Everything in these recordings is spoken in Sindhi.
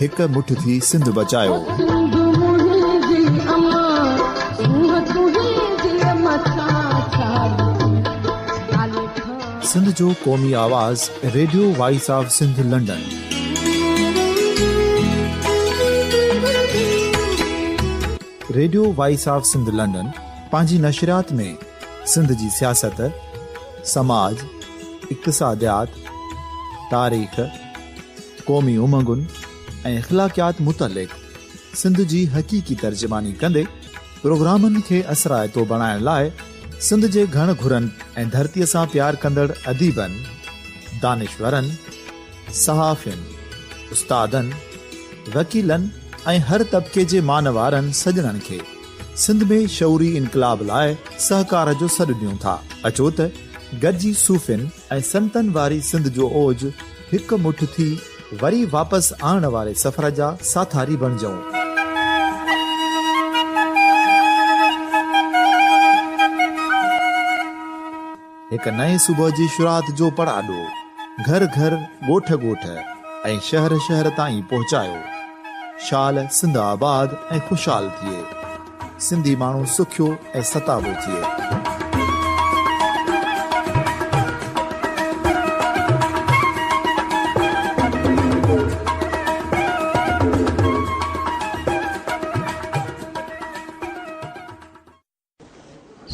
هڪ مٺ ٿي سنڌ بچايوسنڌ جو قومي آواز radio voice of Sindh London radio voice of Sindh London پنهنجي نشريات ۾ سنڌ جي سياست سماج اقتصاديات تاريخ قومي امنگن ۽ اخلاقيات متعلق سنڌ جي حقيقي ترجماني ڪندي پروگرامن کي اثرائتو بڻائڻ لاء سنڌ جي گهڻ گهرن ۽ ڌرتي سان پيار ڪندڙ اديبن، دانشورن، صحافين، استادن، وڪيلن ۽ هر طبقي جي مانوارن سڄڻن کي سنڌ ۾ شعوري انقلاب لاء سهڪار جو سڏ ڏيون ٿا. اچو ته گڏجي صوفين، ۽ سنتن واري سنڌ جو اوج هڪ مٺ ٿي وري واپس آڻڻ واري سفر جا ساٿاري بڻجئون. هڪ نئين صبح جي شروعات جو پڙاڏو گهر گهر، ڳوٺ ڳوٺ ۽ شهر شهر تائين پهچايو. شال سنڌ آباد ۽ خوشحال ٿئي. سنڌي ماڻهو سکيو ۽ ستابو ٿئي.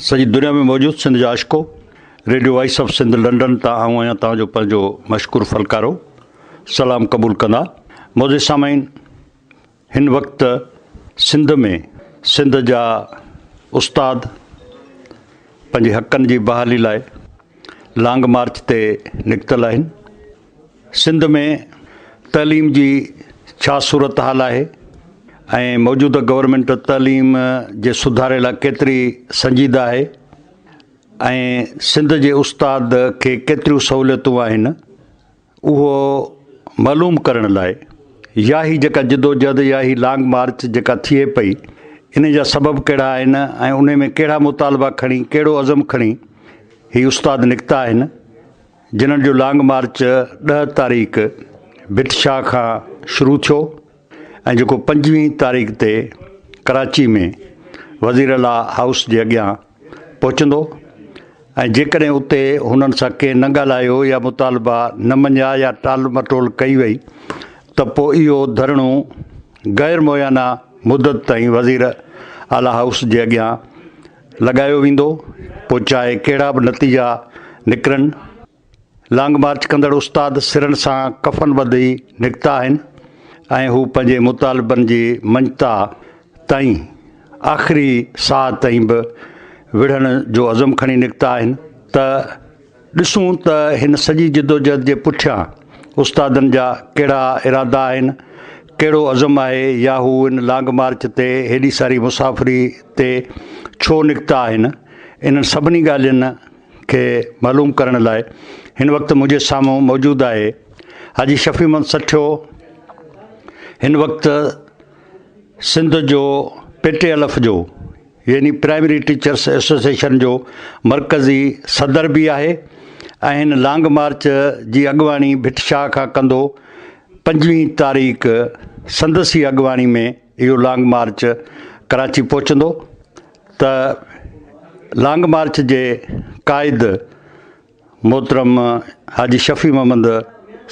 سڄي دنيا ۾ موجود سنڌ جا عاشقو radio voice of Sindh London تان آئون آهيان توهان جو پنهنجو مشڪور فلڪارو سلام قبول ڪندا معزز سامعين هن وقت سنڌ ۾ سنڌ جا استاد پنهنجي حقن جي بحالي لاء لانگ مارچ تي نڪتل آهن. سنڌ ۾ تعليم جي ڇا صورتحال آهي ۽ موجوده گورنمينٽ تعليم جي سڌاري لاء ڪيتري سنجيده آهي ۽ سنڌ جي استاد کي ڪيتريون سهوليتون آهن؟ اهو معلوم ڪرڻ لاء يا هي جيڪا جدوجهد يا هي لانگ مارچ جيڪا ٿئي پئي ان جا سبب ڪهڙا آهن ۽ ان ۾ ڪهڙا مطالبا کڻي ڪهڙو عزم کڻي هي استاد نڪتا آهن جنھن جو لانگ مارچ ڏهه تاريخ ڀٽ شاهه کان شروع ٿيو ۽ جيڪو پنجويهين تاريخ تي ڪراچي ۾ وزيراعليٰ هائوس جي اڳيان پهچندو ۽ جيڪڏهن اتي هنن سان ڪنهن نه ڳالهايو يا مطالبا نه مڃيا يا ٽال مٽول ڪئي وئي ته پوء اهو ڌرڻو غير معينه مدت تائين وزير اعليٰ هائوس جي اڳيان لڳايو ويندو پوء چاهي ڪهڙا به نتيجا نڪرن. لانگ مارچ ڪندڙ استاد سرن سان ڪفن ٻڌي نڪتا آهن ۽ هو پنهنجي مطالبن جي منجتاء تائين آخري ساهه تائين به وڙهڻ جو عزم کڻي نڪتا آهن ته ڏسون ته هن سڄي جدوجهد جي پٺيان استادن جا ڪهڙا ارادا آهن ڪهڙو عزم آهي يا هو ان لانگ مارچ تي هيڏي ساري مسافري تي ڇو نڪتا آهن انهن سڀني ڳالهين کي معلوم ڪرڻ لاء هن وقت منهنجي سامهون موجود آهي حاجي شفيع محمد سٺيو هن وقت سنڌ جو پي ٽي ايل ايف جو يعني پرائمري ٽيچرس ايسوسيشن جو مرڪزي صدر به آهي ۽ هن لانگ مارچ جي اڳواڻي ڀٽ شاهه کان ڪندو پنجويهه تاريخ سندس ئي اڳواڻي ۾ اهو لانگ مارچ ڪراچي پهچندو ته لانگ مارچ جي قائد محترم حاجي شفيع محمد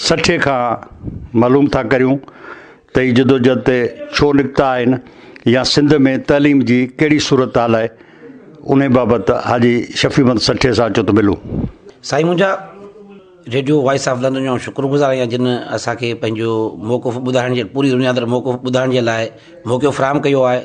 سٺي کان معلوم ٿا ڪريون ته هي جدوجهد تي ڇو نڪتا آهن يا سنڌ ۾ تعليم جي ڪهڙي صورتحال آهي انهي بابت حاجي شفيع محمد سٺي سان اچو ته ملون. سائين منهنجا ريڊيو وائس آف لندن جو شڪر گذار آهيان جن اسان کي پنهنجو موقف ٻڌائڻ جي پوري دنيا اندر موقف ٻڌائڻ جي لاء موقعو فراهم ڪيو آهي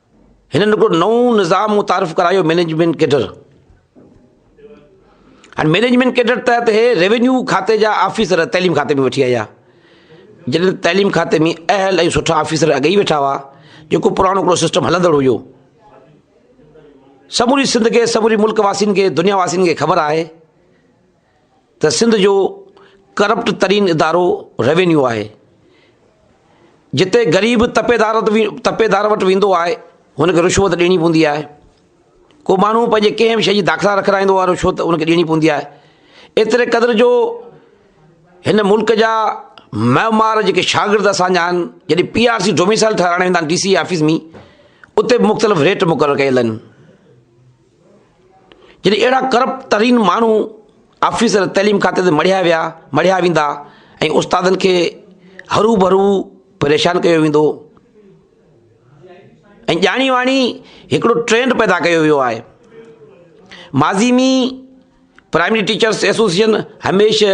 هنن هڪڙو نئون نظام متعارف ڪرايو مينيجمينٽ ڪيڊر هاڻي مينيجمينٽ ڪيڊر تحت هي ريونيو کاتي جا آفيسر تعليم کاتي ۾ وٺي آيا جڏهن تعليم کاتي ۾ اهل ۽ سٺا آفيسر اڳ ئي ويٺا هئا جيڪو پراڻو هڪڙو سسٽم هلندڙ هيو سموري سنڌ کي سموري ملڪ واسين کي دنيا واسين کي خبر آهي ته سنڌ جو ڪرپٽ ترين ادارو روينيو آهي، جتي غريب تپيدار تپيدار وٽ ويندو آهي هن کي رشوت ڏيڻي پوندي آهي، ڪو ماڻهو پنهنجي ڪنهن به شيء جي داخلا رکرائيندو آهي رشوت ان کي ڏيڻي پوندي آهي، ايتري قدر جو هن ملڪ جا معمار جيڪي شاگرد اسان جا آهن جڏهن پي آر سي ڊوميسائل ٺهرائڻ ويندا آهن ڊي سي آفيس ۾ اتي به مختلف ريٽ مقرر ڪيل آهن. جڏهن اهڙا ڪرپٽ ترين ماڻهو آفيسر تعليم کاتي تي مڙهيا ويا مڙهيا ويندا ۽ استادن کي ھرو ڀرو پريشان ڪيو ويندو ۽ ڄاڻي واڻي هڪڙو ٽرينڊ پيدا ڪيو ويو آهي ماضي مي پرائمري ٽيچرس ايسوسيئن هميشه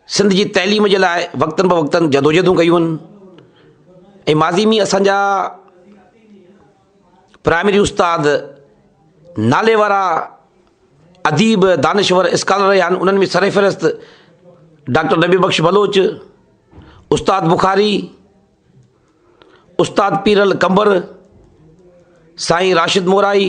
سنڌ جي تعليم جي لاء وقتن بوقتن جدوجهدون ڪيون آهن ۽ ماضي ۾ اسانجا پرائمري استاد نالي وارا اديب دانشور اسڪالر رهيا آهن انهن ۾ سرفهرست ڊاڪٽر نبي بخش بلوچ استاد بخاري استاد پيرل قمبر سائين راشد موراي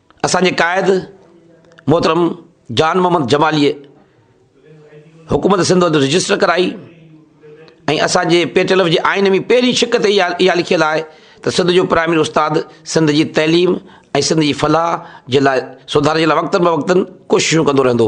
اسان جي قائد محترم جان محمد جماليء حڪومت سنڌ اندر رجسٽر ڪرائي ۽ اسان جي پي ٽي ايل ايف جي آئين ۾ پهرين شق تي اها اها لکيل آهي ته سنڌ جو پرائمري استاد سنڌ جي تعليم ۽ سنڌ جي فلاح جي لاء سڌار جي لاء وقتن بوقتن ڪوششون ڪندو رهندو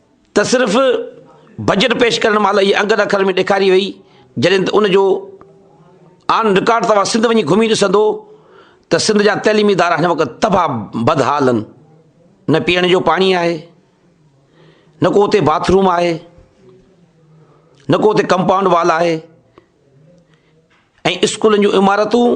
ته صرف بجيٽ پيش ڪرڻ مهل هيء انگن اکرن ۾ ڏيکاري وئي، جڏهن ته ان جو آن رڪارڊ توهان سنڌ وڃي گهمي ڏسندو ته سنڌ جا تعليمي ادارا هن وقت تباهه بدحال آهن، نه پيئڻ جو پاڻي آهي، نه ڪو اتي باٿ روم آهي، نه ڪو اتي ڪمپائونڊ وال آهي ۽ اسڪولن جون عمارتون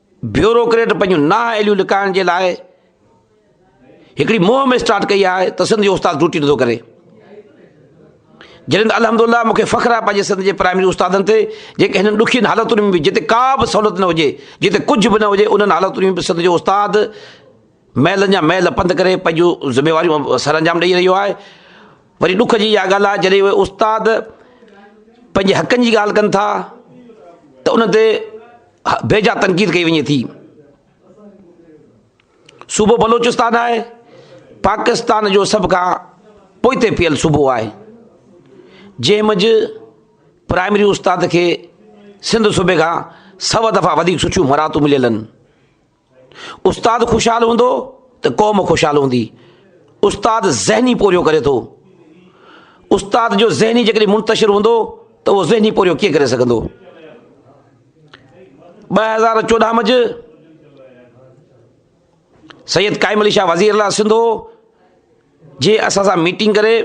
بيوروڪريٽ پنهنجون نااهليون لڪائڻ جي لاء هڪڙي مهم اسٽارٽ ڪئي آهي ته سنڌ جو استاد ڊيوٽي نٿو ڪري جڏهن الحمد لله مون کي فخر آهي پنهنجي سنڌ جي پرائمري استادن تي جيڪي هنن ڏکين حالتن ۾ به جتي ڪا به سهولت نه هجي جتي ڪجهه به نه هجي انهن حالتن ۾ به سنڌ جو استاد محلن جا محل پنڌ ڪري پنهنجون ذميواريون سر انجام ڏيئي رهيو آهي وري ڏک جي اها ڳالهه آهي جڏهن اهي استاد پنهنجي حقن جي ڳالهه ڪن ٿا ته ان تي بي جا تنقيد ڪئي وڃي ٿي، صوبو بلوچستان آهي پاڪستان جو سڀ کان پوئتي پيل صوبو آهي جنهن منجھ پرائمري استاد کي سنڌ صوبي کان سو دفعا وڌيڪ سٺيون مراعتون مليل آهن. استاد خوشحال هوندو ته قوم خوشحال هوندي استاد ذهني پورهيو ڪري ٿو استاد جو ذهني جيڪڏهن منتشر هوندو ته اهو ذهني پورهيو ڪيئن ڪري سگهندو ٻه هزار چوڏهن مجھ سيد قائم علي شاهه وزير لا سنڌو جي اسان سان ميٽنگ ڪري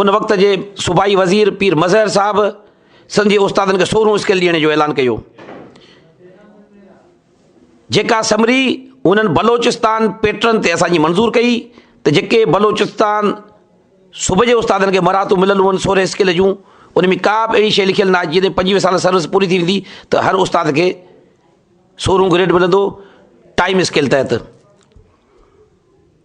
ان وقت جي صوبائي وزير پير مظهر صاحب سنڌ جي استادن کي سورهون اسڪيل ڏيڻ جو اعلان ڪيو جيڪا سمري انهن بلوچستان پيٽرن تي اسان جي منظور ڪئي ته جيڪي بلوچستان صوبه جي استادن کي مهارتون مليل هئن سورهين اسڪيل جون ان ۾ ڪا به اهڙي شيء لکيل ناهي جيئن پنجويهه سال سروس پوري ٿي ويندي ته هر استاد کي سورهون گريڊ ملندو ٽائيم اسڪيل تحت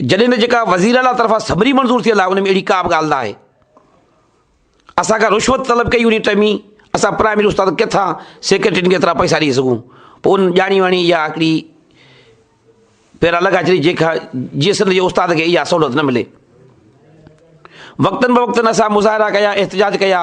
جڏهن ته جيڪا وزير اعليٰ طرفان سمري منظور ٿيل آهي ان ۾ اهڙي ڪا به ڳالهه نه آهي اسان کان رشوت طلب ڪئي وڃي ٽئمي اسان پرائمري استاد ڪٿان سيڪريٽرين کي ايترا پئسا ڏيئي سگهون پوء ان ڄاڻي واڻي يا هڪڙي پيرا لڳا چري جيڪا جي سنڌ جي استاد کي اها سهولت نه ملي وقتن بوقتن اسان مظاهرا ڪيا احتجاج ڪيا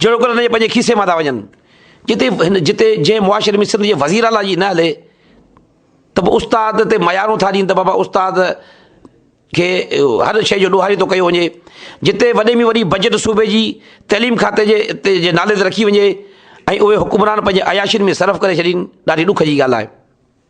جهڙوڪر هن جي پنهنجي کيسي مان ٿا وڃن. جتي هن جتي جنهن معاشري ۾ سنڌ جي وزير اعليٰ جي نه هلي ته به استاد تي ميارون ٿا ڏين ته بابا استاد کي هر شيء جو ڏوهاري ٿو ڪيو وڃي جتي وڏي ۾ وڏي بجيٽ صوبي جي تعليم کاتي جي جي نالي تي رکي وڃي ۽ اهي حڪمران پنهنجي عياشين ۾ صرف ڪري ڇڏين ڏاڍي ڏک جي ڳالهه آهي.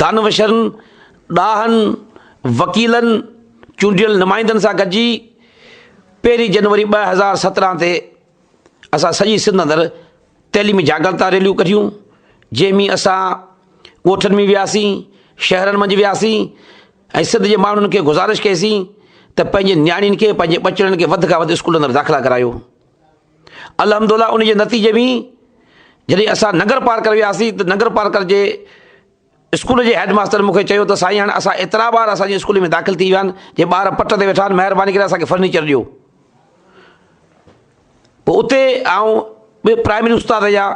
دانوشرن، ڏاهن، وڪيلن، چونڊيل نمائندن سان گڏجي پهرين جنوري ٻه هزار سترهن تي اسان سڄي سنڌ اندر تعليمي جاڳرتا ريليون ڪڍيون جنهن ۾ اسان ڳوٺن ۾ وياسين، شهرن منجهه وياسين ۽ سنڌ جي ماڻهن کي گذارش ڪئي سين ته پنهنجي نياڻين کي پنهنجي ٻچڙن کي وڌ کان وڌ اسڪولن اندر داخلا ڪرايو. الحمدالله ان جي نتيجي ۾ جڏهن اسان ننگر پارڪر وياسين ته ننگر پارڪر جي اسڪول جي هيڊ ماستر مون کي چيو ته سائين هاڻي اسان ايترا ٻار اسان جي اسڪول ۾ داخل ٿي ويا آهن جي ٻار پٽ تي ويٺا آهن مهرباني ڪري اسان کي فرنيچر ڏيو پوء اتي آئون ٻي پرائمري استاد جا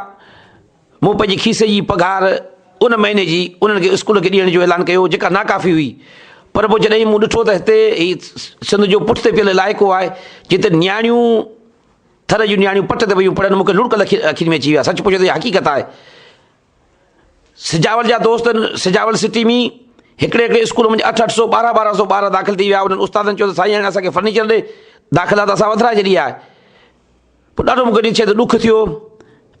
مون پنهنجي کيسي جي پگهار ان مهيني جي انهن کي اسڪول کي ڏيڻ جو اعلان ڪيو جيڪا ناڪافي هئي پر پوء جڏهن مون ڏٺو ته هتي هي سنڌ جو پٺ تي پيل علائقو آهي جتي نياڻيون ٿر جون نياڻيون پٽ تي ويون پڙهن مون کي لڙڪ لکي اکين ۾ اچي ويا سچ پڇو ته هي حقيقت آهي سجاول جا دوست سجاول سٽي ۾ هڪڙي هڪڙي اسڪول ۾ اٺ اٺ سو ٻارهن ٻارهن سو ٻار داخل ٿي ويا انهن استادن چيو ته سائين هاڻي اسان کي فرنيچر ڏي داخلا ته اسان وڌرائي ڇڏي آهي پوء ڏاڍو مون کي ڏسي ته ڏک ٿيو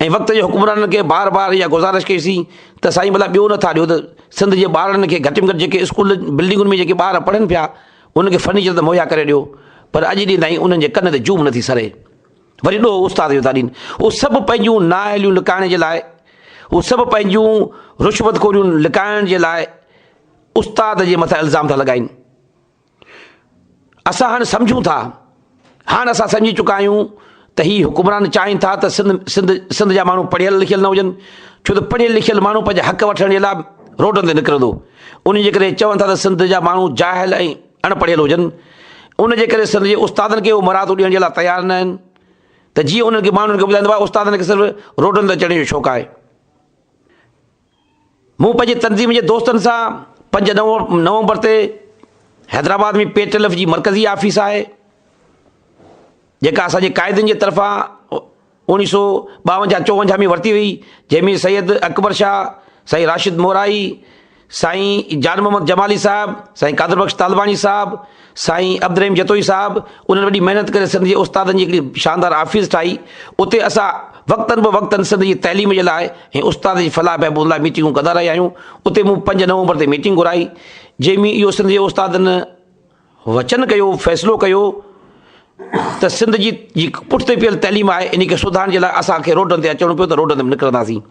۽ وقت جي حڪمرانن کي بار بار اها گذارش ڪئي سين ته سائين ڀلا ٻيو نه ٿا ڏيو ته سنڌ جي ٻارڙن کي گهٽ ۾ گهٽ جيڪي اسڪول بلڊنگن ۾ جيڪي ٻار پڙهن پيا انهن کي فرنيچر ته مهيا ڪري ڏيو پر اڄ ڏينهن تائين انهن جي ڪن تي جوم نه ٿي سري وري ڏوهه استاد جو ٿا ڏين اهو سڀ پنهنجون نااهليون لڪائڻ جي لاء اهو سڀ پنهنجون رشوت خوريون لڪائڻ جي لاء استاد جي مٿان الزام ٿا لڳائين اسان هاڻ سمجهون ٿا، هاڻ اسان سمجهي چڪا آهيون ته هي حڪمران چاهين ٿا ته سنڌ جا ماڻهو پڙهيل لکيل نه هجن، ڇو ته پڙهيل لکيل ماڻهو پنهنجا حق وٺڻ جي لاء روڊن تي نڪرندو، انهي جي ڪري چون ٿا ته سنڌ جا ماڻهو جاهل ۽ اڻ پڙهيل هجن، ان جي ڪري سنڌ جي استادن کي اهو مراعتون ڏيڻ جي لاء تيار نه آهن ته جيئن انهن کي ماڻهن کي ٻڌائيندو آهي استادن کي صرف روڊن تي چڙهڻ جو شوق آهي. مون پنهنجي تنظيم جي دوستن سان پنج نومبر تي Hyderabad ۾ P T L F جي مرڪزي آفيس آهي جيڪا اسان جي قائدين جي طرفان اوڻيهه سو ٻاونجاهه چوونجاهه ۾ ورتي هئي جنهن ۾ سيد اڪبر شاهه سائين راشد موراهي سائين جان محمد جمالي صاحب سائين قادر بخش طالباڻي صاحب سائين عبدالرحيم جتوئي صاحب انهن وڏي محنت ڪري سنڌ جي استادن جي هڪڙي شاندار آفيس ٺاهي اتي اسان وقتن به وقتن سنڌ جي تعليم جي لاء ۽ استادن جي فلاح بهبود لاء ميٽنگون ڪندا رهيا آهيون اتي مون پنج نومبر تي ميٽنگ گهرائي جنهن ۾ اهو سنڌ جي استادن وچن ڪيو فيصلو ڪيو ته سنڌ جي جي پٺتي پيل تعليم آهي ان کي سڌارڻ جي لاء اسان کي روڊن تي اچڻو پيو ته روڊن تي به نڪرنداسين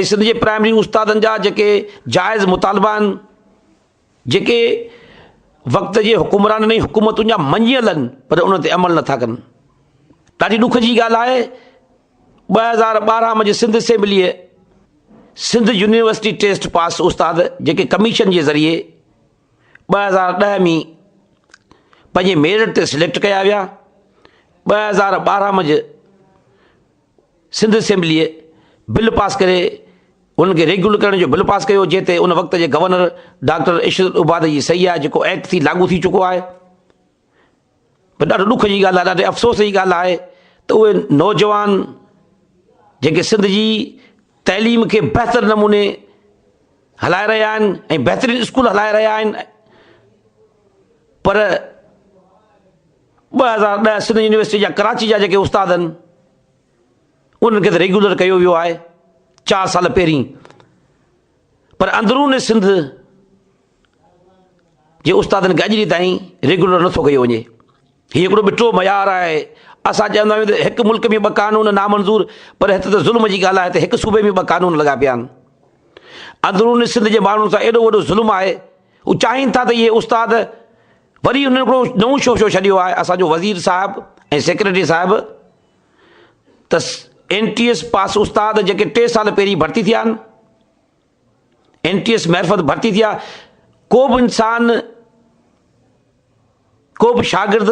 ۽ سنڌ جي پرائمري استادن جا جيڪي جائز مطالبا آهن جيڪي وقت جي حڪمرانن ۽ حڪومتن جا مڃي هلن پر ان تي عمل نٿا ڪن ڏاڍي ڏک جي ڳالهه آهي ٻه هزار ٻارهن ۾ سنڌ اسيمبليء سنڌ يونيورسٽي ٽيسٽ پاس استاد جيڪي ڪميشن جي ذريعي ٻه هزار ڏهه ۾ پنهنجي ميرٽ تي سليڪٽ ڪيا ويا ٻه هزار ٻارهن ۾ سنڌ اسيمبليء بل پاس ڪري انهن کي ريگيولر ڪرڻ جو بل پاس ڪيو جنهن تي ان وقت جي گورنر ڊاڪٽر عشرت العباد جي صحيح آهي جيڪو ايڪٽ ٿي لاڳو ٿي چڪو آهي پر ڏاڍو ڏک جي ڳالهه آهي ڏاڍي افسوس جي ڳالهه آهي ته اهي نوجوان جيڪي سنڌ جي تعليم کي بهتر نموني هلائي رهيا آهن ۽ بهترين اسڪول هلائي رهيا آهن پر ٻه هزار ڏهه سنڌ يونيورسٽي جا ڪراچي جا جيڪي استاد آهن انهن کي ته ريگيولر ڪيو ويو آهي چار سال پهرين پر اندرون سنڌ جي استادن کي اڄ ڏينهن تائين ريگيولر نٿو ڪيو وڃي هي هڪڙو ٻٽو معيار آهي اسان چوندا آهيون ته هڪ ملڪ ۾ ٻه قانون نامنظور پر هت ته ظلم جي ڳالهه آهي ته هڪ صوبي ۾ ٻه قانون لڳا پيا آهن اندرون سنڌ جي ماڻهن سان ايڏو وڏو ظلم آهي هو چاهين ٿا ته اهي استاد وري هن هڪڙو نئون شوشو ڇڏيو آهي اسان جو وزير صاحب ۽ سيڪريٽري صاحب ته اين ٽي ايس پاس استاد جيڪي ٽي سال پهرين ڀرتي ٿيا آهن اين ٽي ايس معرفت ڀرتي ٿيا ڪو به انسان ڪو به شاگرد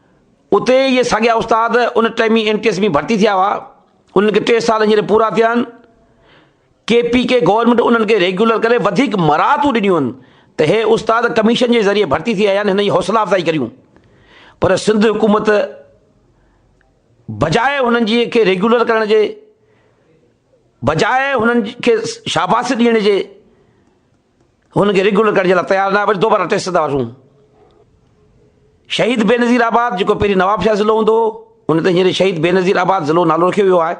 اتي اهي ساڳيا استاد ان ٽائيم ۾ اين ٽي ايس ۾ ڀرتي ٿيا هئا، انهن کي ٽي سال هينئر پورا ٿيا آهن، ڪي پي ڪي گورنمينٽ انهن کي ريگيولر ڪري وڌيڪ مراعتون ڏنيون آهن ته هي استاد ڪميشن جي ذريعي ڀرتي ٿي آيا آهن هن جي حوصلا افزائي ڪريون پر سنڌ حڪومت بجاء هنن جي کي ريگيولر ڪرڻ جي بجاء هنن کي شاباسي ڏيڻ جي هن کي ريگيولر ڪرڻ جي لاء تيار نه آهي، دوباره ٽيسٽ ڪندا هئاسون. شهيد بينظير آباد جيڪو پهرين نوابشاهه ضلعو هوندو هو، ان تي هينئر شهيد بينظير آباد ضلعو نالو رکيو ويو آهي.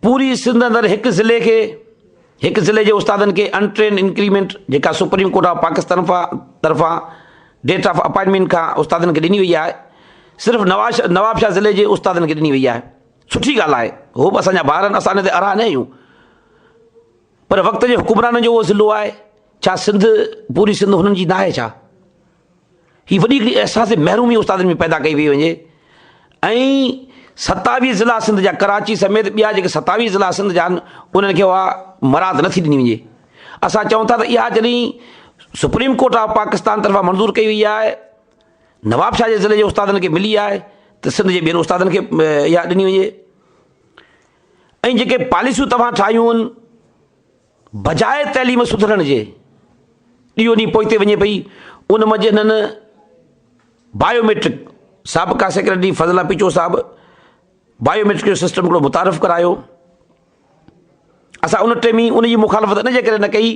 پوري سنڌ اندر هڪ ضلعي کي هڪ ضلعي جي استادن کي ان ٽرينڊ انڪريمينٽ جيڪا سپريم ڪورٽ آف پاڪستان طرفان ڊيٽ آف اپائنٽمينٽ کان استادن کي ڏني وئي آهي صرف نواز نواب شاهه ضلعي جي استادن کي ڏني وئي آهي سٺي ڳالهه آهي هو به اسان جا ٻار آهن اسان ان تي ارها نه آهيون پر وقت جي حڪمرانن جو اهو ضلعو آهي ڇا سنڌ پوري سنڌ هنن جي ناهي ڇا هي وڏي هڪڙي احساس محرومي استادن ۾ پيدا ڪئي وئي وڃي ۽ ستاويهه ضلع سنڌ جا ڪراچي سميت ٻيا جيڪي ستاويهه ضلع سنڌ جا آهن انهن کي اها مراد نٿي ڏني وڃي اسان چون ٿا ته اها جڏهن سپريم ڪورٽ آف پاڪستان طرفان منظور ڪئي وئي آهي نواب شاهه جي ضلعي جي استادن کي ملي آهي ته سنڌ جي ٻين استادن کي اها ڏني وڃي ۽ جيڪي پاليسيون توهان ٺاهيون ان بجاء تعليم سڌرڻ جي ڏينهون ڏينهن پوئتي وڃي پئي ان منجهه هنن بايوميٽرڪ سابقا سيڪريٽري فضلا پيچو صاحب بايوميٽرڪ جو سسٽم هڪڙو متعارف ڪرايو اسان ان ٽيم ان جي مخالفت ان جي ڪري نه ڪئي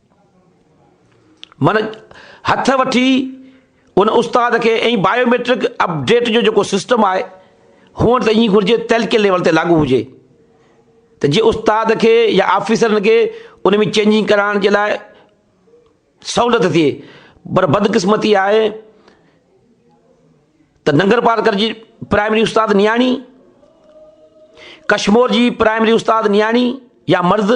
من هٿ وٺي ان استاد کي ۽ بايوميٽرڪ اپڊيٽ جو جيڪو سسٽم آهي هونئن ته ائين گهرجي تلڪي ليول تي لاڳو هجي ته جي استاد کي يا آفيسرن کي ان ۾ چينجنگ ڪرائڻ جي لاء سهولت ٿئي پر بدقسمتي آهي ته ننگر پارڪر جي پرائمري استاد نياڻي ڪشمور جي پرائمري استاد نياڻي يا مرد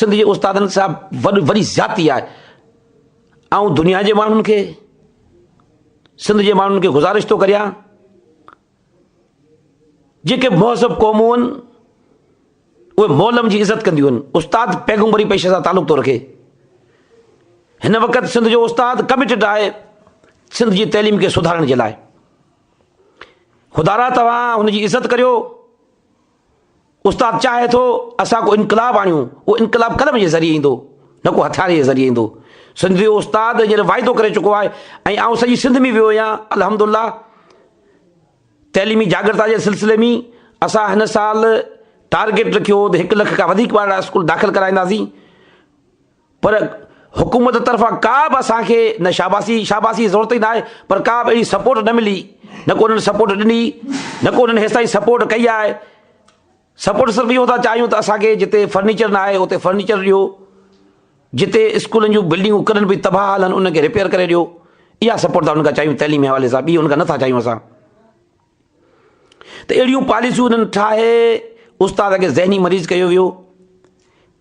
سنڌ جي استادن صاحب وڏ وڏي زيادتي آهي آئون دنيا جي ماڻهن کي سنڌ جي ماڻهن کي گزارش ٿو ڪريان جيڪي مهذب قومون آهن اهي مولم جي عزت ڪنديون آهن استاد پيغمبري پيشي سان تعلق ٿو رکي هن وقت سنڌ جو استاد ڪمٽيڊ آهي سنڌ جي تعليم کي سڌارڻ جي لاء خدارا توهان هن جي عزت ڪريو استاد چاهي ٿو اسان ڪو انقلاب آڻيون، اهو انقلاب قلم جي ذريعي ايندو نه ڪو هٿيارن جي ذريعي ايندو، سنڌ جو استاد هينئر واعدو ڪري چڪو آهي ۽ آئون سڄي سنڌ ۾ ويو هيان الحمد الله تعليمي جاڳرتا جي سلسلي ۾ اسان هن سال ٽارگيٽ رکيو هو ته هڪ لک کان وڌيڪ ٻارڙا اسڪول داخل ڪرائينداسين. پر حڪومت طرفان ڪا به اسان کي نه شاباسي، شاباسي جي ضرورت ئي نه آهي، پر ڪا به اهڙي سپورٽ نه ملي، نه ڪو انهن سپورٽ ڏني، نه ڪو انهن هيستائين سپورٽ ڪئي آهي، سپورٽ صرف اهو ٿا چاهيون ته اسان کي جتي فرنيچر نه آهي اتي فرنيچر ڏيو، جتي اسڪولن جون بلڊنگون ڪڏهن به تباهه حال آهن انهن کي ريپيئر ڪري ڏيو، اها سپورٽ ٿا انهن کان چاهيون تعليم جي حوالي سان ٻي انهن کان نه ٿا چاهيون اسان ته اهڙيون پاليسيون انهن ٺاهي استاد کي ذهني مريض ڪيو ويو.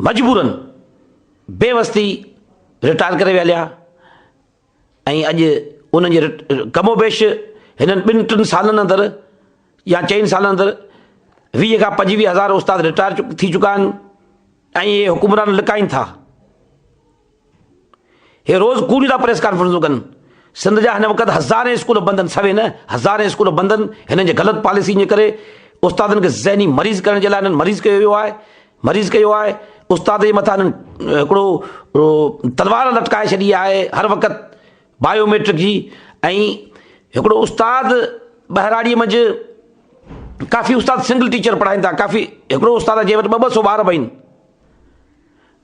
مجبورن بيوستي رٽائر ڪري ويا ليا ۽ اڄ انهن جي ڪم و بيش هنن ٻن ٽن سالن اندر يا چئن سالن اندر ويهه کان پنجويهه هزار استاد رٽائر ٿي چڪا آهن ۽ اهي حڪمران لڪائين ٿا هي روز ڪوڙيون ٿا پريس ڪانفرنسون ڪن. سنڌ جا هن وقت هزارين اسڪول بند آهن سوين نه هزارين اسڪول بند آهن هنن جي غلط پاليسين جي ڪري استادن کي ذهني مريض ڪرڻ جي لاء هنن مريض ڪيو ويو آهي مريض ڪيو آهي استاد جي مٿان هنن هڪڙو تلوار لٽڪائي ڇڏي آهي هر وقت بايوميٽرڪ جي ۽ هڪڙو استاد ٻهراڙي منجھ ڪافي استاد سنگل ٽيچر پڙهائين ٿا ڪافي هڪڙو استاد جي وٽ ٻه ٻه سو ٻار به آهن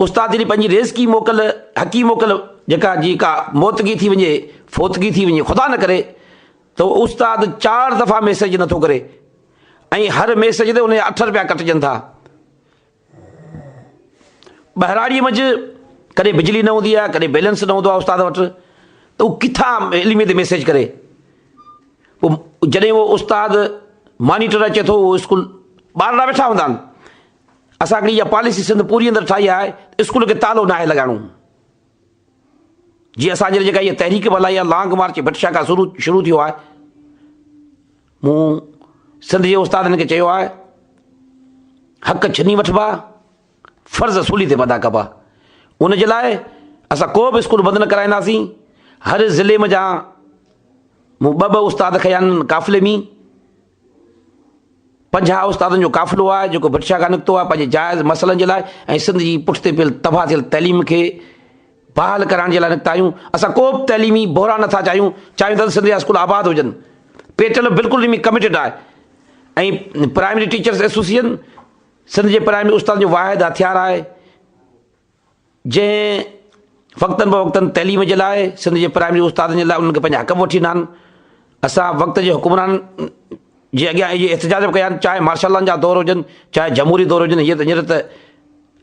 استاد جڏهن پنهنجي ريزڪي موڪل، حقي موڪل، جيڪا جي ڪا موتگي ٿي وڃي، فوتگي ٿي وڃي، خدا نه ڪري، ته استاد چار دفعا ميسيج نه ٿو ڪري ۽ هر ميسيج تي ان جا اٺ رپيا ڪٽجن ٿا. ٻهراڙيء منجهه ڪڏهن بجلي نه هوندي آهي، ڪڏهن بيلنس نه هوندو آهي استاد وٽ، ته هو ڪٿان علمي تي ميسيج ڪري. پوء جڏهن اهو استاد مانيٽر اچي ٿو، اهو اسڪول ٻارڙا ويٺا هوندا آهن، اسان هڪڙي اها پاليسي سنڌ پوري اندر ٺاهي آهي ته اسڪول کي تالو ناهي لڳائڻو. جي اسان جي جيڪا اها تحريڪ به هلائي آهي لانگ مارچ ڀٽ شاهه کان شروع ٿيو آهي. مون سنڌ جي استادن کي چيو آهي حق ڇني وٺبا فرض سولي تي ادا ڪبا ان جي لاء اسان ڪو به اسڪول بند نه ڪرائينداسين هر ضلعي ۾ جا مون ٻه ٻه استاد کيا آهن قافلي ۾ پنجاهه استادن جو قافلو آهي جيڪو برشا کان نڪتو آهي پنهنجي جائز مسئلن جي لاء ۽ سنڌ جي پٺتي پيل تباهه ٿيل تعليم کي بحال ڪرائڻ جي لاء نڪتا آهيون اسان ڪو به تعليمي بحران نٿا چاهيون چاهيون ٿا ته سنڌ جا اسڪول آباد هجن پيٽل بلڪل ان ۾ ڪميٽيڊ آهي ۽ پرائمري ٽيچرس ايسوسيئن سنڌ جي پرائمري استادن جو واحد هٿيار آهي جنهن وقتن بوقتن تعليم جي لاء سنڌ جي پرائمري استادن جي لاء انهن کي پنهنجا حق به وٺي ڏنا آهن اسان وقت جي حڪمرانن جي اڳيان اهي احتجاج به ڪيا آهن چاهي مارشل لان جا دور هجن چاهي جمهوري دور هجن هيئر هينئر ته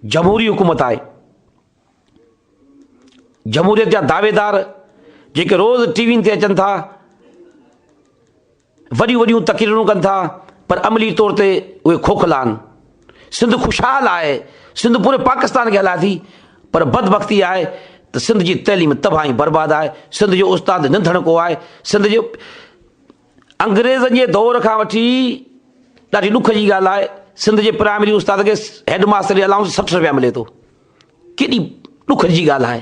جمهوري حڪومت آهي جمهوريت جا دعويدار جيڪي روز ٽي وين تي اچن ٿا وڏيون وڏيون تقريرون ڪن ٿا پر عملي طور تي اهي کوکلا آهن. سنڌ خوشحال آهي، سنڌ پوري پاڪستان کي هلائي ٿي پر بدبختي آهي ته سنڌ جي تعليم تباهه ۽ برباد آهي، سنڌ جو استاد ننڌڻڪو آهي، سنڌ جي انگريزن جي دور کان وٺي ڏاڍي ڏک جي ڳالهه آهي سنڌ جي پرائمري استاد کي هيڊ ماستر جي الائونس سٺ رپيا ملي ٿو، ڪيڏي ڏک جي ڳالهه آهي.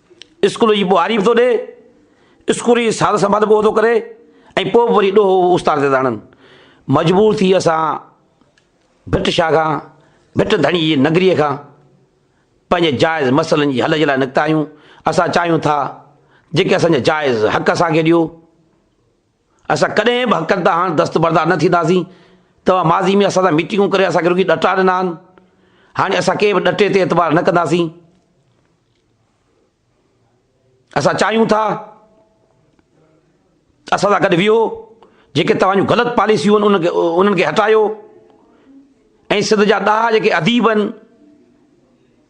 اسڪول جي ٻهاري به ٿو ڏئي، اسڪول جي سار سنڀال به اهو ٿو ڪري ۽ پوء به وري ڏوهه اهو استاد تي ٿا هڻن. مجبور ٿي اسان ڀٽ شاهه کان، ڀٽ ڌڻي جي نگريء کان پنهنجي جائز مسئلن جي حل جي لاء نڪتا آهيون. اسان چاهيون ٿا جيڪي اسان جا جائز حق اسان کي ڏيو. اسان ڪڏهن به حقن تان هاڻ دستبردار نه ٿينداسين، توهان ماضي ۾ اسان سان ميٽنگون ڪري اسان کي رڳي ڏٽا ڏنا آهن، هاڻي اسان ڪنهن به ڏٽي تي اعتبار نه ڪنداسين، اسان چاهيون ٿا ته اسان سان گڏ ويهو، جيڪي توهان جون غلط پاليسيون آهن انهن کي هٽايو ۽ سنڌ جا ڏاها جيڪي اديب آهن،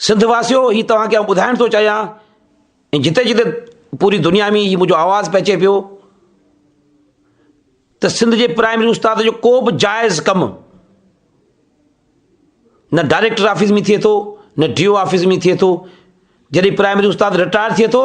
سنڌ واسيو هي توهان کي آئون ٻڌائڻ ٿو چاهيان ۽ جتي جتي پوري دنيا ۾ هي منهنجو آواز پهچي پيو ته سنڌ جي پرائمري استاد جو ڪو به جائز ڪم نه ڊائريڪٽر آفيس ۾ ٿئي ٿو نه ڊي او آفيس ۾ ٿئي ٿو جڏهن پرائمري استاد رٽائر ٿئي ٿو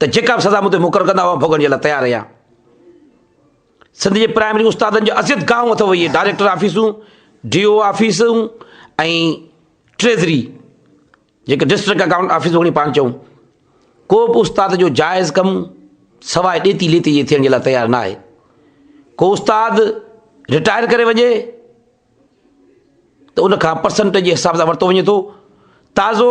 ته جيڪا به سزا مون تي مقرر ڪندا اها ڀوڳڻ جي لاء تيار رهيان. سنڌ جي پرائمري استادن جو اذيت گاهون اٿو اهي ڊائريڪٽر آفيسون، ڊي او آفيسون ۽ ٽريزري جيڪي ڊسٽرڪٽ اڪائونٽ آفيس وڳڻي پاڻ چئون ڪو به استاد جو جائز ڪم سواء ڏيتي ليتي جي ٿيڻ جي لاء تيار ناهي ڪو استاد رٽائر ڪري وڃي ته ان کان پرسنٽ جي حساب سان ورتو وڃي ٿو تازو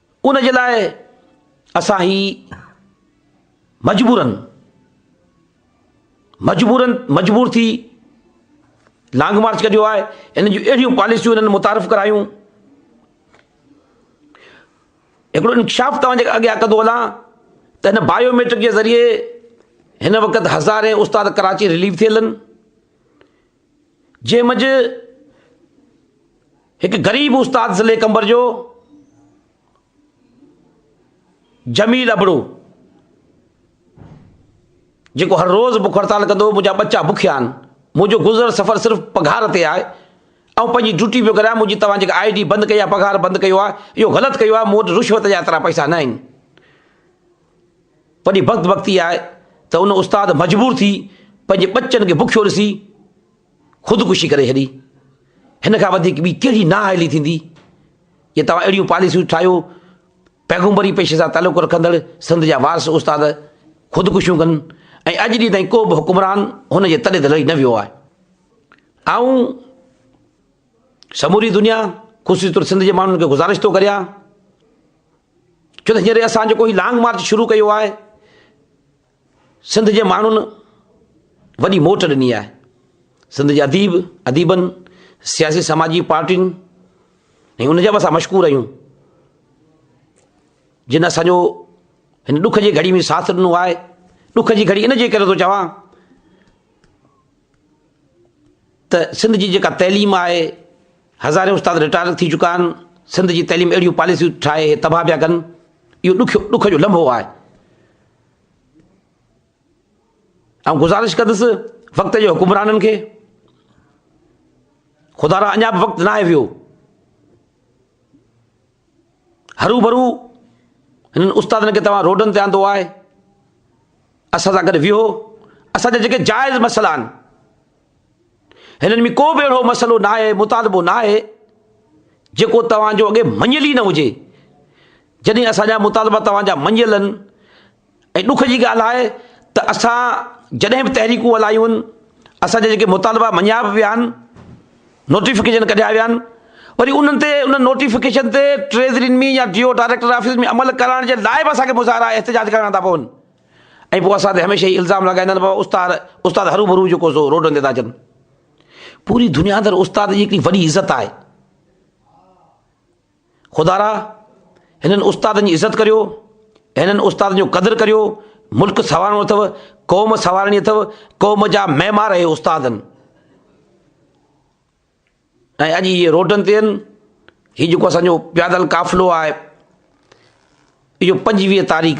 ان جي لاء اسان هي مجبورن مجبورن مجبور ٿي لانگ مارچ ڪڍيو آهي ان جون اهڙيون پاليسيون هنن متعارف ڪرايون هڪڙو انڪشاف توهان جي اڳيان ڪندو هلان ته هن بايوميٽرڪ جي ذريعي هن وقت هزارين استاد ڪراچي ريليو ٿيل آهن جنهن منجهه هڪ غريب استاد ضلعي قمبر جو جميل ابڙو جيڪو هر روز بک هڙتال ڪندو هو منهنجا ٻچا بکيا آهن منهنجو گذر سفر صرف پگهار تي آهي آئون پنهنجي ڊيوٽي پيو ڪريان منهنجي توهان جيڪا آئي ڊي بند ڪئي آهي پگهار بند ڪيو آهي اهو غلط ڪيو آهي مون وٽ رشوت جا ايترا پئسا نه آهن وڏي بخت بختي آهي ته ان استاد مجبور ٿي پنهنجي ٻچن کي بکيو ڏسي خودڪشي ڪري ڇڏي هن کان وڌيڪ ٻي ڪهڙي نااهلي ٿيندي جي توهان اهڙيون پاليسيون ٺاهيو پيغمبري پيشي سان تعلق رکندڙ سنڌ جا وارث استاد خودڪشيون ڪن ۽ اڄ ڏينهن تائين ڪو به حڪمران هن جي تڏي تي لڙي نه ويو آهي آئون سموري دنيا خصوصي طور سنڌ جي ماڻهن کي گذارش ٿو ڪريان ڇو ته هينئر اسان جيڪو هي لانگ مارچ شروع ڪيو آهي، سنڌ جي ماڻهن وڏي موٽ ڏني آهي. سنڌ جي اديب، اديبن، سياسي سماجي پارٽين ۽ ان جا به اسان مشڪور آهيون، جن اسان جو هن ڏک جي گهڙي ۾ ساٿ ڏنو آهي. ڏک جي گهڙي ان جي ڪري ٿو چوان ته سنڌ جي جيڪا تعليم آهي هزارين استاد رٽائر ٿي چڪا آهن سنڌ جي تعليم اهڙيون پاليسيون ٺاهي هي تباهه پيا ڪن اهو ڏکيو ڏک جو لمحو آهي آئون گزارش ڪندس وقت جو حڪمرانن کي خدا را اڃا به وقت ناهي ويو هروڀرو هنن استادن کي توهان روڊن تي آندو آهي، اسان سان گڏ ويهو، اسان جا جيڪي جائز مسئلا آهن، هنن ۾ ڪو به اهڙو مسئلو ناهي، مطالبو ناهي، جيڪو توهان جو اڳي مڃيل ئي نه هجي، جڏهن اسان جا مطالبا توهان جا مڃيل آهن، ۽ ڏک جي ڳالهه آهي ته اسان جڏهن به تحريڪون هلايون آهن، اسان جا جيڪي مطالبا مڃيا به ويا آهن، نوٽيفڪيشن ڪڍيا ويا آهن، وري انهن تي انهن نوٽيفڪيشن تي ٽريزرين ۾ يا ڊي او ڊائريڪٽر آفيس ۾ عمل ڪرائڻ جي لاء به اسان کي مظاهرا ۽ احتجاج ڪرڻا ٿا پون ۽ پوء اسان تي هميشه هي الزام لڳائيندا آهن بابا استاد استاد هرو ڀرو جيڪو سو روڊن تي ٿا اچن پوري دنيا اندر استاد جي هڪڙي وڏي عزت آهي. خدارا! هنن استادن جي عزت ڪريو، هنن استادن جو قدر ڪريو، ملڪ سنوارڻو اٿئو، قوم سنوارڻي اٿئو، قوم جا معمار اهي استاد آهن. ۽ اڄ اهي روڊن تي آهن، هي جيڪو اسان جو پيادل قافلو آهي، اهو پنجويهه تاريخ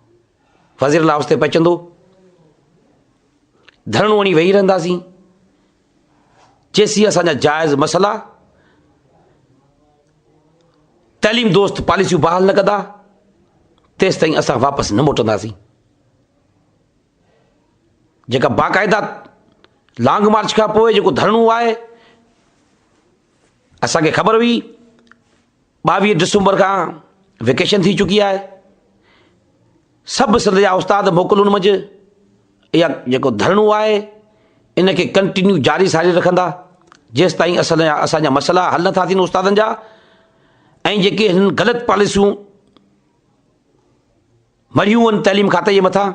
وزيرل هائوس تي پهچندو ڌرڻو هڻي ويهي رهنداسين جيسين اسان جا جائز مسئلا تعليم دوست پاليسيون بحال نه ڪندا تيس تائين اسان واپس نه موٽنداسين جيڪا باقاعده لانگ مارچ کان پوء جيڪو ڌرڻو آهي اسانکي خبر هئي ٻاويهه ڊسمبر کان ويڪيشن ٿي چڪي آهي سڀ سنڌ جا استاد موڪلون منجھ اها جيڪو ڌرڻو آهي ان کي ڪنٽينيو جاري ساري رکندا جيس تائين اسان جا اسان جا مسئلا حل نٿا ٿين استادن جا ۽ جيڪي هن غلط پاليسيون مريون ان تعليم کاتي جي مٿان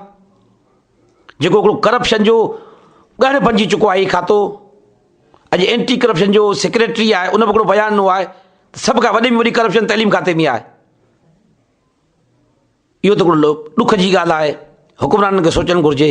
جيڪو هڪڙو ڪرپشن جو ڳڙهه بنجي چڪو آهي هي کاتو اڄ اينٽي ڪرپشن جو سيڪريٽري آهي ان به هڪڙو بيان ڏنو آهي ته سڀ کان وڏي ۾ وڏي ڪرپشن تعليم کاتي ۾ آهي اهو ته هڪڙو ڏک جي ڳالهه آهي حڪمرانن کي سوچڻ گهرجي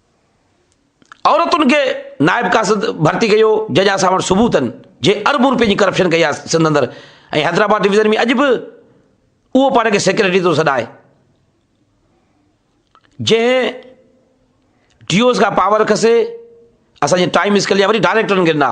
عورتن کي نائب قاصد ڀرتي ڪيو جج اسان وٽ ثبوتن جي اربون روپين جي ڪرپشن ڪئي آهي سنڌ اندر ۽ حيدرآباد ڊويزن ۾ اڄ به اهو پاڻ کي سيڪريٽري ٿو سڏائي جنهن ڊيوز کان پاور کسي اسانجي ٽائم اسڪل جا وري ڊائريڪٽرن کي ڏنا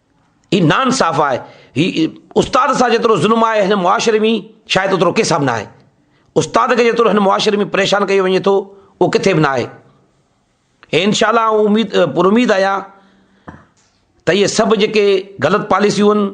هي نا انصاف آهي، هي استاد سان جيترو ظلم آهي هن معاشري ۾ شايد اوترو ڪنهن سان به ناهي. استاد کي جيترو هن معاشري ۾ پريشان ڪيو وڃي ٿو اهو ڪٿي به ناهي. ۽ انشاء الله آئون اميد پر اميد آهيان ته اهي سڀ جيڪي غلط پاليسيون آهن،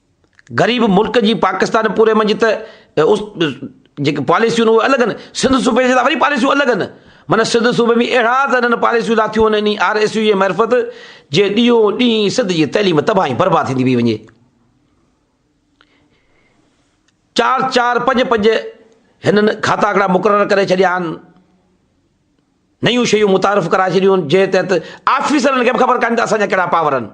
غريب ملڪ جي پاڪستان پوري منجهه ته جيڪي پاليسيون اهي الڳ آهن سنڌ صوبي جي لاء وري پاليسيون الڳ آهن معنيٰ سنڌ صوبي ۾ اهڙا ته هنن پاليسيون لاٿيون آهن انهي آر ايس يو جي معرفت جي ڏينهون ڏينهن سنڌ جي تعليم تباهي برباد ٿيندي پئي وڃي چار چار پنج پنج هنن کاتا هڪڙا مقرر ڪري ڇڏيا آهن نيون شيون متعارف ڪرائي ڇڏيون آهن جنهن تحت آفيسرن کي به خبر ڪانه ته اسان جا ڪهڙا پاور آهن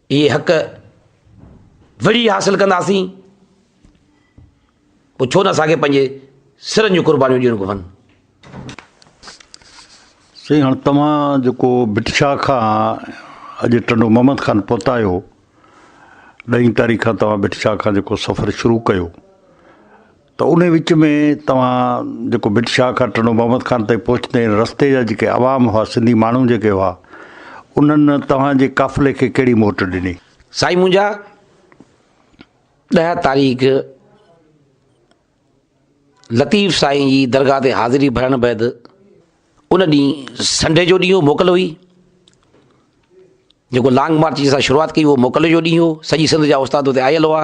اهي حق وڙهي حاصل ڪنداسين پوء ڇو نه اسان کي پنهنجي سرن جون قربانيون ڏيڻ گهرن سائين هاڻ توهان جيڪو بٽشاهه کان اڄ ٽنڊو محمد خان پهتا آهيو ڏهين تاريخ کان توهان بٽشاهه کان جيڪو سفر شروع ڪيو ته انهي وچ ۾ توهان جيڪو ڀٽ شاهه کان ٽنڊو محمد خان تائين پهچندي هن رستي جا جيڪي عوام هئا سنڌي ماڻهو جيڪي هئا انهن توهان جي قافلي کي ڪهڙي موٽ ڏني؟ سائين منهنجا ڏهه تاريخ لطيف سائين جي درگاهه تي حاضري ڀرڻ بعد ان ڏينهن سنڊي جو ڏينهن هو موڪل هئي جيڪو لانگ مارچ جي اسان شروعات ڪئي هو موڪل جو ڏينهن هو سڄي سنڌ جا استاد اتي آيل هئا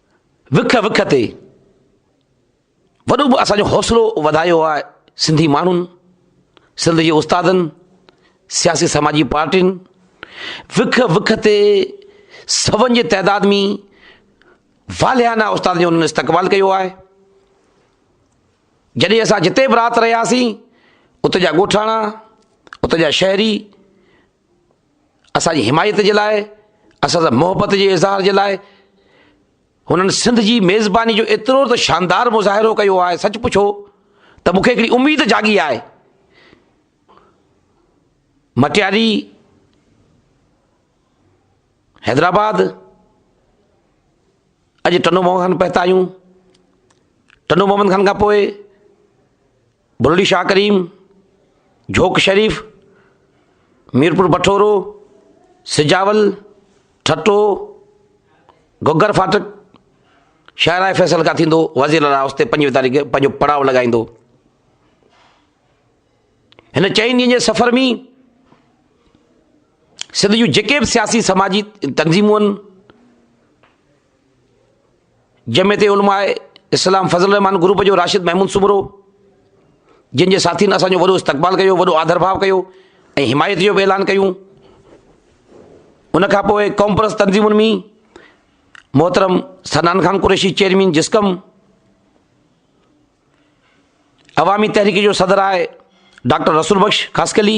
وک وک تي وڏو اسان جو حوصلو وڌايو آهي سنڌي ماڻهن سنڌ جي استادن سياسي سماجي پارٽين وک وک تي سون جي تعداد ۾ واليانه استاد جو انهن استقبال ڪيو آهي جڏهن اسان جتي به رات رهياسين اتي جا ڳوٺاڻا اتي جا شهري اسان جي حمايت جي لاء، اسان سان محبت جي اظهار جي لاء هنن سنڌ جي ميزباني جو ايترو ته شاندار مظاهرو ڪيو آهي سچ پڇو ته مون کي هڪڙي اميد جاڳي آهي. مٽياري، حيدرآباد، اڄ ٽنڊو محمد خان پهتا آهيون، ٽنڊو محمد خان کان پوء، بروڙي شاهه ڪريم، جھوڪ شريف، ميرپور بٺورو، سجاول، ٺٽو، گھگھر ڦاٽڪ، شاهراهه فيصل کان ٿيندو وزير اعليٰ هائوس تي پنجويهه تاريخ پنهنجو پڙاء لڳائيندو. هن چئن ڏينهن جي سفر ۾ سنڌ جون جيڪي به سياسي سماجي تنظيمون آهن، جمعيت علماء اسلام فضل الرحمان گروپ جو راشد محمود سومرو جن جي ساٿين اسان جو وڏو استقبال ڪيو وڏو آڌر ڀاء ڪيو ۽ حمايت جو به اعلان ڪيون ان کان پوء قومپرست تنظيمن ۾ محترم سنان خان قريشي چيئرمين جسڪم عوامي تحريڪ جو صدر آهي ڊاڪٽر رسول بخش خاص کلي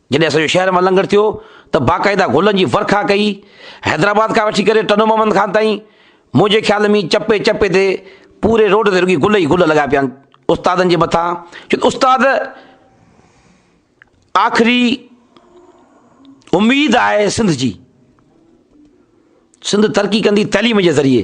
جڏهن اسان جو شهر مان لنگهر ٿيو ته باقاعده گلن جي ورکا ڪئي. حيدرآباد کان وٺي ڪري ٽنڊو محمد خان تائين منهنجي خيال ۾ چپي چپي تي پوري روڊ تي رڳي گل ئي گل لڳا پيا آهن استادن جي مٿان چون استاد آخري اميد آهي سنڌ جي سنڌ ترقي ڪندي تعليم جي ذريعي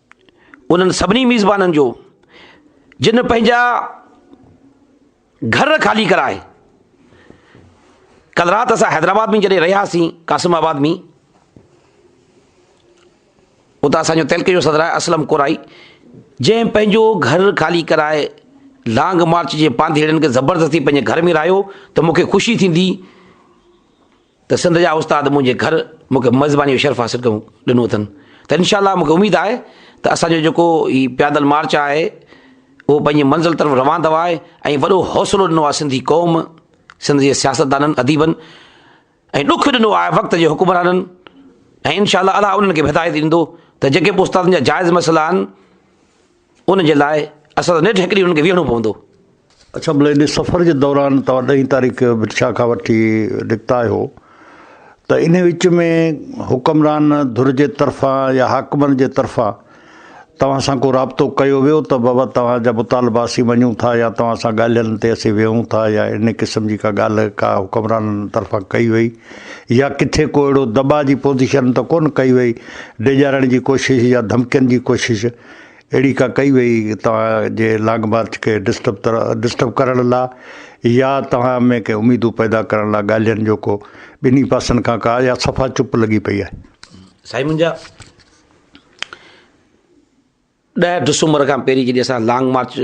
انهن سڀني ميزبانن جو جن پنهنجا گهر خالي ڪرائي ڪل رات اسان حيدرآباد ۾ جڏهن رهياسين قاسم آباد ۾ اتي اسانجو تلڪ جو صدر آهي اسلم ڪورائي جنهن پنهنجو گهر خالي ڪرائي لانگ مارچ جي پانڌيئڙن کي زبردستي پنهنجي گهر ۾ رهايو ته مونکي خوشي ٿيندي ته سنڌ جا استاد منهنجي گهر مون کي ميزباني جو شرف حاصل ڪيو ڏنو اٿن ته انشاء الله مون کي اميد آهي ته اسان جو جيڪو هي پيادل مارچ آهي اهو پنهنجي منزل طرف روان ٿو آهي ۽ وڏو حوصلو ڏنو آهي سنڌي قوم سنڌ جي سياستدانن اديبن ۽ ڏک ڏنو آهي وقت جي حڪمرانن ۽ انشاء الله الله انهن کي به هدايت ڏيندو ته جيڪي به استادن جا جائز مسئلا آهن ان جي لاء اسان سان نيٺ هڪ ڏينهن هنن کي ويهڻو پوندو. اڇا ملئي ان سفر جي دوران توهان ڏهين تاريخ بٽشاهه کان وٺي نڪتا آهيو ته ان وچ ۾ حڪمران ڌر جي طرفان يا حاڪمن جي طرفان توهان سان ڪو رابطو ڪيو ويو ته بابا توهان جا مطالبا اسين مڃون ٿا يا توهان سان ڳالهين تي اسين ويهون ٿا يا ان قسم جي ڪا ڳالهه ڪا حڪمرانن طرفان ڪئي وئي يا ڪٿي ڪو اهڙو دٻاء جي پوزيشن ته ڪونه ڪئي وئي ڊيڄارڻ جي ڪوشش يا ڌمڪين جي ڪوشش اهڙي ڪا ڪئي وئي توهان جي لانگ مارچ کي ڊسٽرب ڊسٽرب ڪرڻ لا يا توهان ۾ ڪي اميدون پيدا ڪرڻ لا ڳالهين جو ڪو ٻنهي پاسن کان ڪا يا صفا چپ لڳي پئي آهي. سائين منهنجا ڏهه ڊسمبر کان پهرين جڏهن اسان لانگ مارچ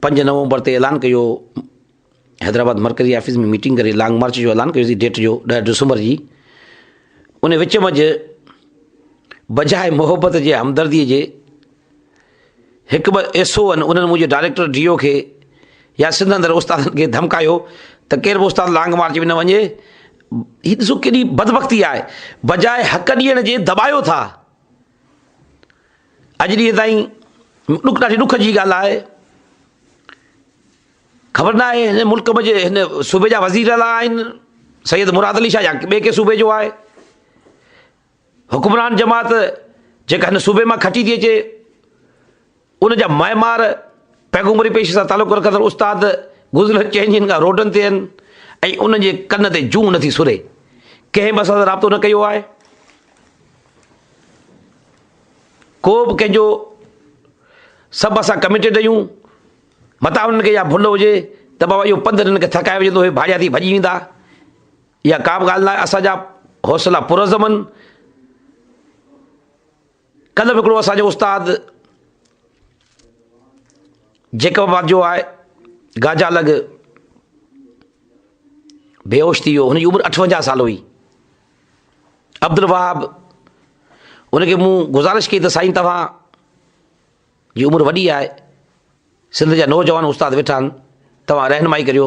پنج نومبر تي اعلان ڪيو حيدرآباد مرڪزي آفيس ۾ ميٽنگ ڪري لانگ مارچ جو اعلان ڪيوسي ڊيٽ جو ڏهه ڊسمبر جي ان وچ منجھ بجاء محبت جي همدردي جي هڪ ٻه ايس او انهن منهنجي ڊائريڪٽر ڊي او کي يا سنڌ اندر استادن کي ڌمڪايو ته ڪير به استاد لانگ مارچ ۾ نه وڃي هي ڏسو ڪيڏي بدبختي آهي بجاء حق ڏيڻ جي دٻايو ٿا اڄ ڏينهن تائين ڏک ڏاڍي ڏک جي ڳالهه آهي خبر نه آهي هن ملڪ ۾ هن صوبي جا وزير الا آهن سيد مراد علي شاهه يا ٻئي ڪي صوبي جو آهي حڪمران جماعت جيڪا هن صوبي مان کٽي ٿي اچي ان جا معمار پيغمبري پيشي سان تعلق رکندڙ استاد گذريل چئن ڏينهن کان روڊن تي آهن ۽ انهن جي ڪن تي جون نه ٿي سري. ڪنهن به اسان سان رابطو نه ڪيو آهي. ڪو به ڪنهن جو سڀ اسان ڪميٽيڊ آهيون. متان انهن کي اها ڀل هجي ته بابا اهو پنڌ هنن کي ٿڪائي وجهندو هي ڀاڙيا ٿي ڀڄي ويندا. اها ڪا به ڳالهه نه آهي. اسان جا حوصلا پرعزم آهن. ڪلهه به هڪڙو اسان جو استاد جيڪب آباد جو آهي گاجا لڳ بيهوش ٿي ويو هن جي عمر اٺونجاهه سال هئي عبد الوهاب انکي مون گذارش ڪئي ته سائين توهان جي عمر وڏي آهي سنڌ جا نوجوان استاد ويٺا آهن توهان رهنمائي ڪريو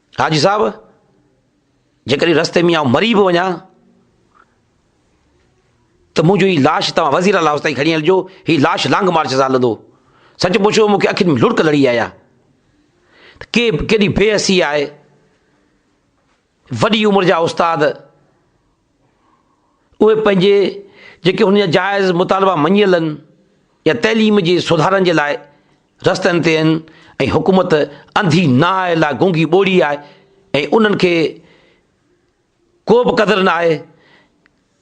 حاجي صاحب جيڪڏهن رستي ۾ آئون مري به وڃان ته منهنجو هي لاش توهان وزير اعليٰ تائين کڻي هلجو هي لاش لانگ مارچ سان هلندو سچ پڇو مونکي اکين ۾ لڙڪ لڙي آيا ته ڪي ڪيڏي بي حسي آهي وڏي عمر جا استاد اهي پنهنجي جيڪي انهن جا جائز مطالبا مڃيل آهن يا تعليم جي سڌارن جي لاء رستن تي آهن ۽ حڪومت انڌي نانء لاء گونگي ٻوڙي آهي ۽ انهن کي ڪو به قدر نه آهي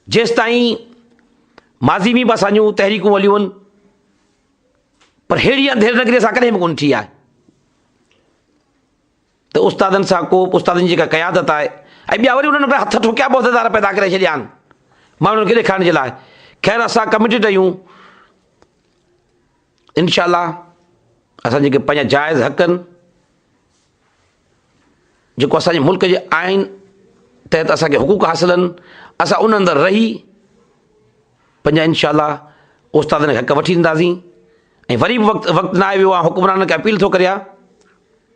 جيستائين ماضي ۾ به اسان جون تحريڪون هليون آهن پر هيڙي انڌير نگري سان ڪڏهن به ڪونه ٿي آهي ته استادن سان ڪوپ، استادن جي جيڪا قيادت آهي ۽ ٻيا وري انهن ۾ هٿ ٺوڪيا به عهديدار پيدا ڪري ڇڏيا آهن ماڻهن کي ڏيکارڻ جي لاء. خير اسان ڪميٽيڊ آهيون انشاء الله اسان جيڪي پنهنجا جائز حق آهن جيڪو اسان جي ملڪ جي آئين تحت اسان کي حقوق حاصل آهن اسان ان اندر رهي پنهنجا انشاء الله استادن کي حق وٺي ڏينداسين ۽ وري به وقت وقت ناهي ويو آ حڪمرانن کي اپيل ٿو ڪريان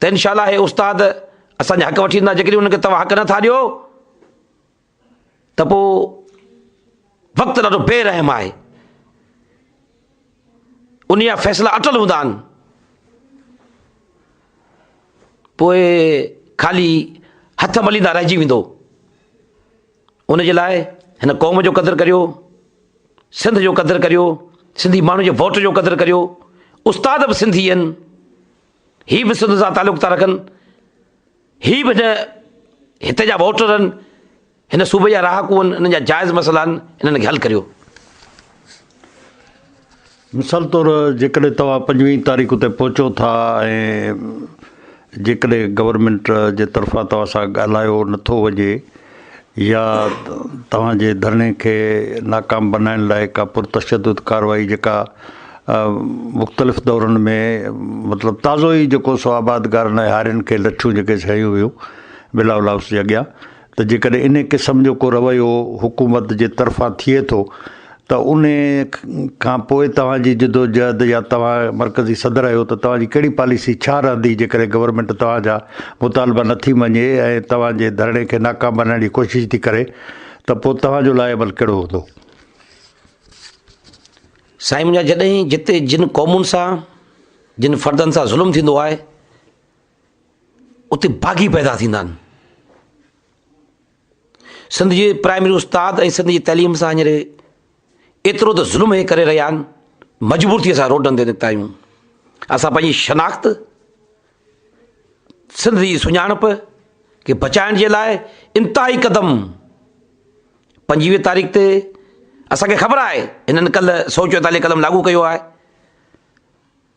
ته انشاء الله هي استاد اسان جا حق وٺي ويندا جيڪڏهن ان کي توهان حق نٿا ڏيو ته پوء وقت ڏاڍو بي رحم آهي ان جا فيصلا اٽل هوندا آهن پوء خالي هٿ مليندا رهجي ويندو ان جي لاء هن قوم جو قدر ڪريو سنڌ جو قدر ڪريو سنڌي ماڻهو جي ووٽ جو قدر ڪريو استاد به سنڌي آهن هي به سنڌ سان تعلق ٿا رکن، هي به هن هتي جا ووٽر آهن، هن صوبي جا رهاڪو آهن، انهن جا جائز مسئلا آهن، انهن کي حل ڪريو. مثال طور جيڪڏهن توهان پنجويهه تاريخ تي پهچو ٿا ۽ جيڪڏهن گورنمينٽ جي طرفان توهان سان ڳالهايو نٿو وڃي، يا توهان جي ڌرڻي کي ناڪام بنائڻ لاء ڪا پرتشدد ڪارروائي جيڪا مختلف دورن ۾ مطلب تازو ئي جيڪو سو آبادگارن ۽ هارين کي لٺيون جيڪي سهيون ويون بلاول هائوس جي اڳيان ته جيڪڏهن ان قسم جو ڪو رويو حڪومت جي طرفان ٿئي ٿو ته انهي کان پوء توهان جي جدوجهد يا توهان مرڪزي صدر آهيو ته توهان جي ڪهڙي پاليسي ڇا رهندي جيڪڏهن گورنمينٽ توهان جا مطالبا نه ٿي مڃي ۽ توهان جي ڌرڻي کي ناڪام بنائڻ جي ڪوشش ٿي ڪري ته پوء توهان جو لاء عمل ڪهڙو هوندو؟ سائين منهنجا جڏهن جتي جن قومن سان جن فردن سان ظلم ٿيندو آهي اتي باغي پيدا ٿيندا آهن سنڌ جي پرائمري استاد ۽ سنڌ جي تعليم سان هينئر ايترو ته ظلم هي ڪري رهيا آهن مجبور ٿي اسان روڊن تي نڪتا آهيون اسان پنهنجي شناخت سنڌ جي سڃاڻپ کي بچائڻ جي لاء انتهائي قدم پنجويهه تاريخ تي اسانکي خبر آهي هنن ڪل سو چوئيتاليهه قدم لاڳو ڪيو آهي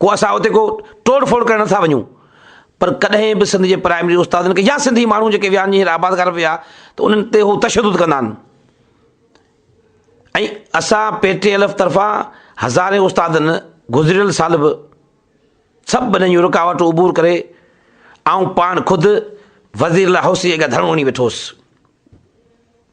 ڪو اسان اتي ڪو ٽوڙ ڦوڙ ڪرڻ نٿا وڃون پر ڪڏهن به سنڌ جي پرائمري استادن کي يا سنڌي ماڻهو جيڪي ويا آهن جيئن آبادگار ويا ته انهن تي هو تشدد ڪندا آهن ۽ اسان پي ٽي ايل ايف طرفان هزارين استادن گذريل سال به سڀ بنن جون رڪاوٽون عبور ڪري آئون پاڻ خود وزير لاء هوسي اڳيان ڌرڻو وڃي ويٺو هوس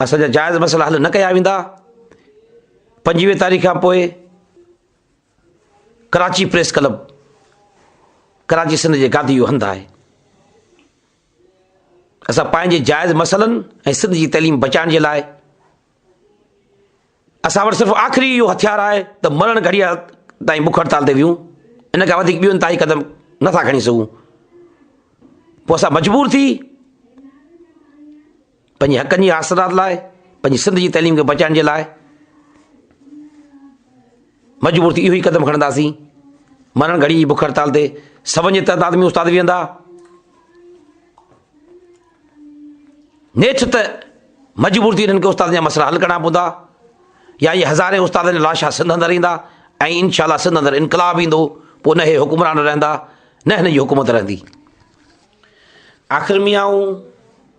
اسان جا جائز مسئلا حل نه ڪيا ويندا، پنجويهه تاريخ کان پوء ڪراچي پريس ڪلب ڪراچي سنڌ جي گادي جو هنڌ آهي اسان پنهنجي جائز مسئلن ۽ سنڌ جي تعليم بچائڻ جي لاء اسان وٽ صرف آخري اهو هٿيار آهي ته مرڻ گهڙيء تائين بک هڙتال تي ويهون، ان کان وڌيڪ ٻيو انتهائي قدم نه ٿا کڻي سگهون. پوء اسان مجبور ٿي پنهنجي حقن جي حاصلات لاء، پنهنجي سنڌ جي تعليم کي بچائڻ جي لاء، مجبور ٿي اهو ئي قدم کڻنداسين. مرڻ گهڙيء جي بک هڙتال تي سون جي تعداد ۾ استاد ويهندا. نيٺ ته مجبور ٿي انهن کي استادن جا مسئلا حل ڪرڻا پوندا يا اهي هزارين استادن جا لاشا سنڌ اندر ايندا ۽ انشاء الله سنڌ اندر انقلاب ايندو پوء نه هي حڪمران رهندا نه هن جي حڪومت رهندي. آخر ۾ آئون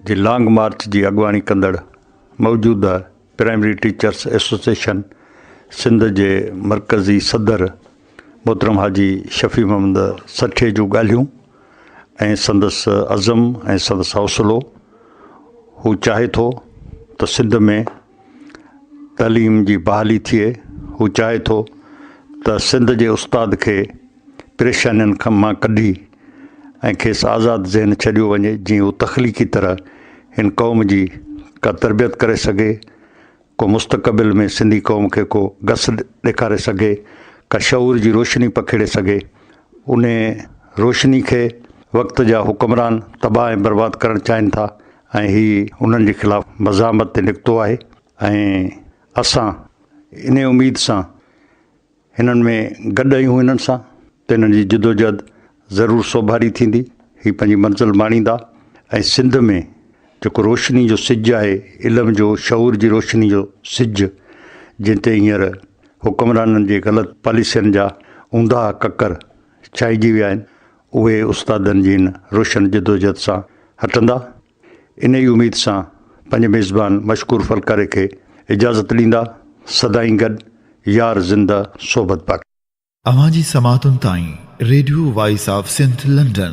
جي لانگ مارچ جي اڳواڻي ڪندڙ موجوده پرائمري ٽيچرس ايسوسيئيشن سنڌ جي مرڪزي صدر محترم حاجي شفيع محمد سٺي جون ڳالهيون ۽ سندس عزم ۽ سندس حوصلو هو چاهي ٿو ته سنڌ ۾ تعليم جي بحالي ٿئي هو چاهي ٿو ته سنڌ جي استاد کي پريشانين کان مان ڪڍي ۽ کيس آزاد ذهن ڇڏيو وڃي جيئن هو تخليقي طرح هن قوم جي ڪا تربيت ڪري سگهي ڪو مستقبل ۾ سنڌي قوم کي ڪو گس ڏيکاري سگهي ڪا شعور جي روشني پکيڙي سگهي ان روشني کي وقت جا حڪمران تباهه ۽ برباد ڪرڻ چاهين ٿا ۽ هي انهن جي خلاف مزاحمت تي نڪتو آهي ۽ اسان ان اميد سان هنن ۾ گڏ آهيون هنن سان ته هنن جي جدوجهد ضرور سوڀاري ٿيندي هي پنهنجي منزل ماڻيندا ۽ سنڌ ۾ جيڪو روشني جو سج آهي علم جو شعور جي روشني جو سج جنهن تي هينئر حڪمرانن جي غلط پاليسين جا اونداها ڪڪر ڇائجي ويا آهن اهي استادن جي هن روشن جدوجهد سان هٽندا انهيء اميد سان پنهنجي ميزبان مشڪور ڦلڪاري کي اجازت ڏيندا، سدائين گڏ يار زنده صحبت باقي. اوهان جي سماعتن تائين radio voice of Sindh London.